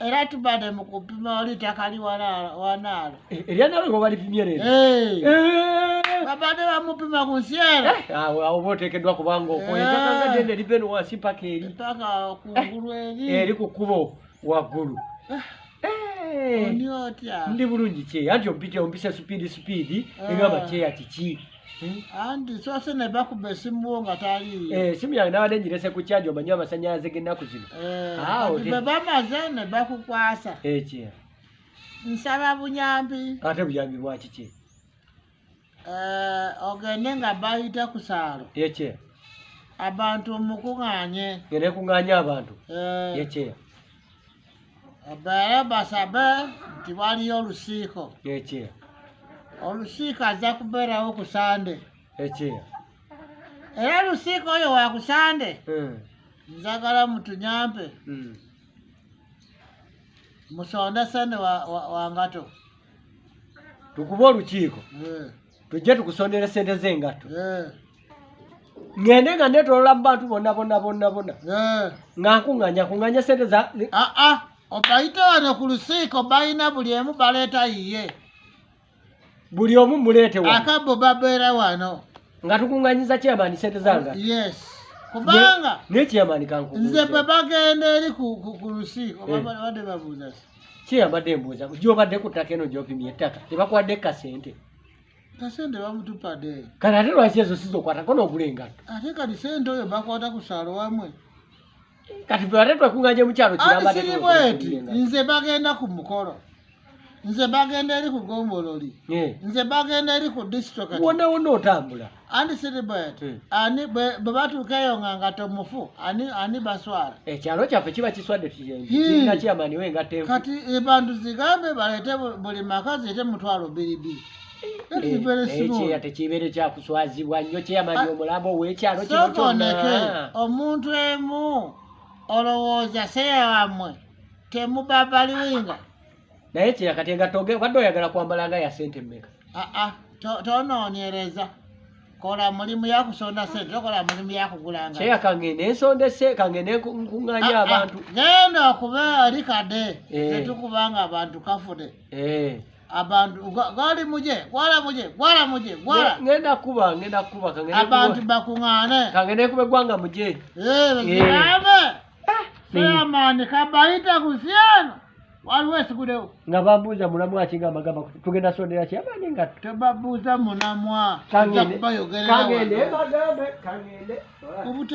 era tubade mu kupima oli ttaka liwanaalo eh, eryanaalo eh, webalipimye leero eh. babade bamupima ku nsi era ah, awoba oteekeddwa kubanga okoetaka nga dende liva eno wansi paka eri paka kungulu eri eri ku kkubo waggulu ndi bulungi kyeya nti ompite ompise supiidi supiidi egamba kyeya kiki Hmm? anti sose ne bakuba esimu wo nga taliyo eh, esimu yange nabadde njirese ku kyaji omanyi amasanyalaze gennaku zino eh, ah, bwe bamaze ne bakukwasa ekyo eh, nsaba buyambi ate buyambi bwakiki ogende nga bayita ku saalo ekyo abantu mukuŋŋanye ngende kuŋŋanye abantu ekyo obeere basabe nti waliyo olusiiko ekyeya olusiiko ajja kubeerawo ku sande ekyeya era olusiiko oyo wa ku sande hmm. njagala mutunyampe hmm. musonde sente wa, wa, wa ngato tukube olukiiko hmm. tujje tukusondere sente z'engatto eh. ngende nga netolola mu bantu bonna bonna bonna bonna eh. nga nkuŋŋanya kuŋŋanya sente za aa ah, ah. obayite wano ku lusiiko balina buli emu baleeta yiye buli omu muleete wa akabbo babeera wano nga tukuŋŋanyiza kyamaani sente zanga yes kubanga nekyamaani kanku nze bwe bagenda eri ku lusiiko eh. babadde babuuza si kyeyabadde mbuuza gyobadde ku ttaka eno gyopimye ettaka tebakwadde kasente kasente bamutupade kati ate lwaki ezo sizokwatako nogula engatto ate kati sente oyo bakwata ku saalo wamwe kati fe ate twekunganye mukyalo kirambasiri bweti nze bagenda ku mukolo nze bagenda eri ku gombololi nze bagenda eri ku disitoka wona wona otambula anti siribwet hmm. ani bwe batuuka eyo nga ngato mufu ani ani baswala ekyalo kyaffe kiba kiswadde kiina kyamani we nga tevu kati ebantu zigambe baleete buli maka ziite mutwalo biribi ekyeya eh, tekibeere kyakuswazibwa nnyo kyeyamani ah, omulambo owekyalo kino kyona omuntu emu olowooza seya wamwe temubabaliwinga naye kira kati engatto oge- obadde oyagala kwambala nga ya sente mmeka aa Ah, tonoonyereza kola mulimu yakusonda sente tokola mulimu yakugula nga kyeya kangende ensonda ese kangende nku- nkuŋŋaanya Ah, ah, abantu genda okuba eri kade Eh. zetukuba nga abantu kafude Eh. abantu gwa- gwali muje gwala muje gwala muje gwala Nge- ngenda kuba ngenda kuba kangende abantu kuba- bakuŋaane kangende kuba eggwanga muje Eh, Eh. bazigambe Chairman kabaita kusiano waliwo esigudewo nga babuuza mulamu akigamba gamba tugenda sondera chairman nga tebabuuza munamwa kangende kangende kangende